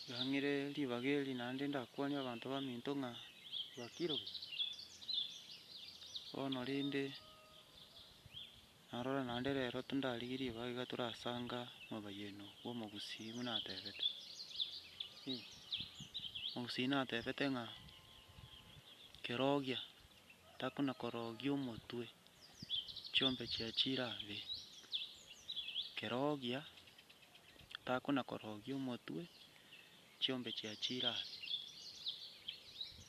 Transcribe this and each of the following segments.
Ndang'ire ribaga eri naende ndakwanie abanto baminto ng'a bakiroke. Bono rende narora naende rero tindarigie ribaga iga torasanga mobayeno bw'omogusii buna atebete. Ee, omogusii natebete ng'a kerogia takona korogia omotwe, chiombe chia chira be, kerogia. takona-korogia omotwe, chiombe chiachiire aase.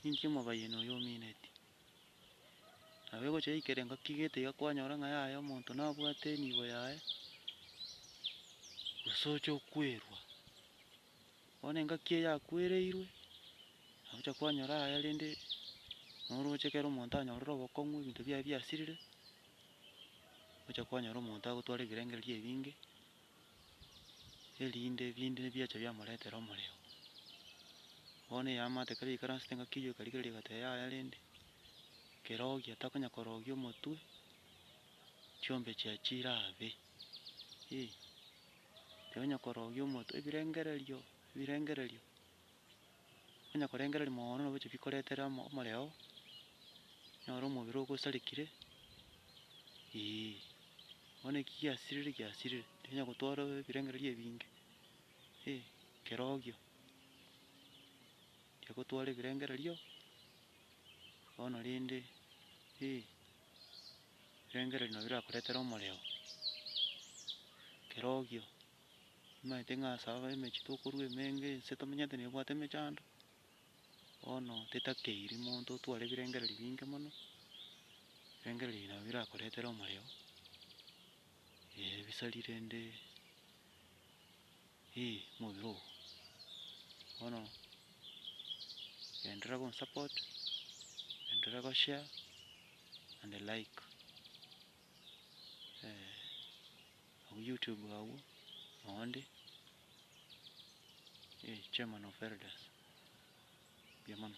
Ninki omobayeni oyo omineti? Nabo egocha yaikera engaki iga etiga kwanyora ng'a yaye omonto nabwate enibo yaye, gose oche okwerwa. Bono engaki eye yakwereirwe, nagocha kwanyora aye rende noroche ekero omonto anyorire obokong'u ebinto biaye biasirire, ogocha kwanyora omonto agotwara ebirengererio ebinge. erinde ebinto ebi biacha biamoretera omorero. Bono eyamate ekero yaikaransete ngaki eyio ekarigereria egateba yaya rende, kerogia takonya korogia omotwe, chiombe chiaye chirabe, eh. Tonya korogia omotwe, ebirengererio, ebirengererio. Onye korengereria mooono nobochie bikoretera omoreo, nyore omobere ogosarekire, eeh. Bono eki giasirire giasirire, tikenya gotwara ebirengererio ebinge, eeh, kerogio. Tiga gotwara ebirengererio, bono rende, eeh, ebirengererio nabio birakoretera omoreo, kerogio. Tomaete ng'a ase aba emechie tokorua emenge ense tomenyete nebwate emechando, bono tetakeiri monto otware ebirengererio binge mono, ebirengererio ebi nabio birakoretere omorero, eh ebisari rende eh omobere oo. Bono enderera gonsupport, enderera goshare and the like, eeh. Abwo YouTube abwo onde eh chairman of elders. Mbuya mono.